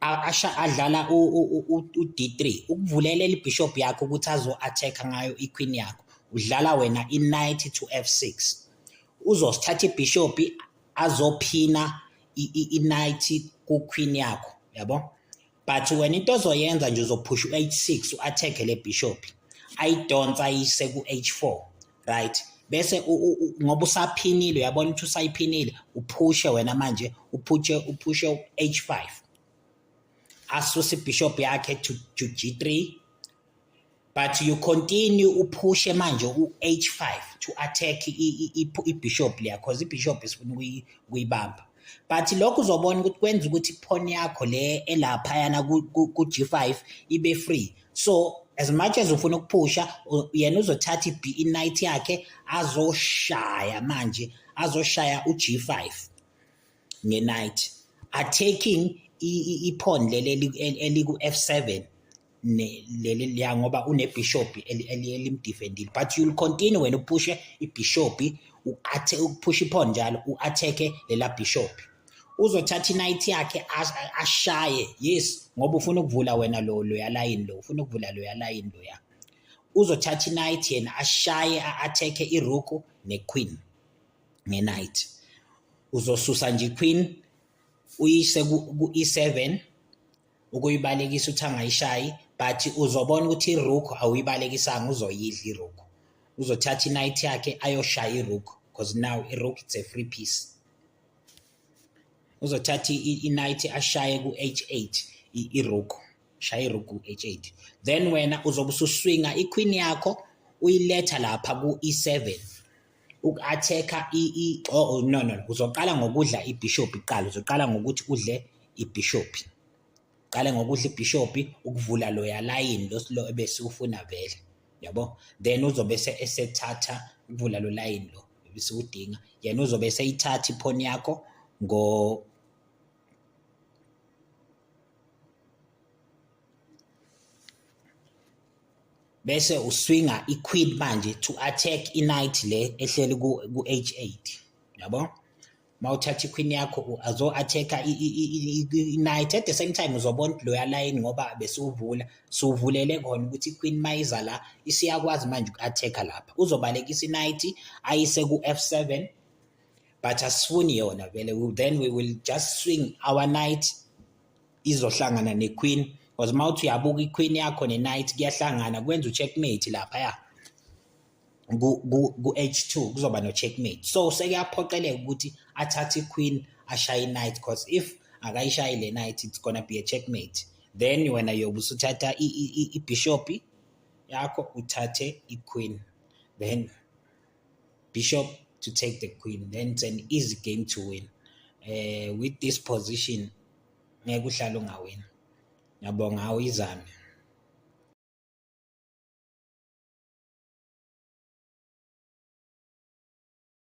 asha adlala u-D3 ukuvulela ibishop yakho ukuthi azo-attack ngayo iqueen yakho udlala wena i-knight to f6 uzosithatha ibishop azophina i-knight ku-queen yakho yabo but wena into ozoyenza nje uzophusha u-h6 u-attack le bishop ayidonsa ayise ku-h4 right bese ngoba usaphinile uyabona ukuthi usayiphinile uphushe wena manje uphushe uphushe u-h5 asuse ibishop yakhe to, to g3 but you continue uphushe manje u-h5 to attack ibishop liya cause ibishop isifuna ukuyibamba but lokho uzobona ukuthi kwenza ukuthi phone yakho le elaphayana ku-G5 ibe free so as much as ufuna ukuphusha yena uzothatha ibe night yakhe azoshaya manje azoshaya u-G5 ngenight attacking iphone leli eliku-F7 leli liya ngoba unebhishobhi elimdefendile but you'll continue wena uphushe ibhishobhi u-athe ukuphusha iphone njalo u-atheke lela bhishobhi uzothatha i-night yakhe ashaye yes ngoba ufuna ukuvula wena lo loya layini lo ufuna ukuvula loya layini loya uzothatha i-night yena ashaye a-atheke iruku ne-queen nge-night uzosusa nje i-queen uyise ku-e7 ukuyibalekisa uthi angayishayi but uzobona ukuthi iruku awuyibalekisanga uzoyidla iruku uzothatha inight yakhe ayoshaya iruku because now iruku it's a free piece uzothatha inight ashaye ku-h8 iruku shaya iruku ku-h8 then wena uzobe ususwinga iqueen yakho uyiletha lapha ku-e7 uku-athekha oh, oh, no no uzoqala ngokudla ibhishophi kuqala uzoqala ngokuthi udle ibhishophi qale ngokudla ibhishophi ukuvula loya layini lo ebesiwufuna vele yabo then uzobe esethatha ukuvula lo layini lo ebesiwudinga yena uzobe eseyithatha iphoni yakho ngo bese uswinga i-queen manje to attack i-night le ehleli ku-h8 yabo ma uthatha i-queen yakho azo-attack-a i-night at the same time uzobona ukuthi loya layini ngoba besiwuvula siwuvulele khona ukuthi i-queen ma iza la isiyakwazi manje uku-attack-a lapha uzobalekisa i-night ayise ku-f seven but asifuni yona vele then we will just swing our night izohlangana nequeen because uma uthi uyabuka iqueen yakho ne-night kuyahlangana kwenza u-checkmate lapha ya ku-h two kuzoba no-checkmate so sekuyaphoqeleka ukuthi athathe iqueen ashaye i-night because if akayishayi le night it's gonna be a checkmate then wena yobe usuthatha ibhishopi yakho uthathe iqueen then bishop to take the queen then it's an easy game to win uh, with this position ngeke uhlale ungawini ngiyabonga awuyizame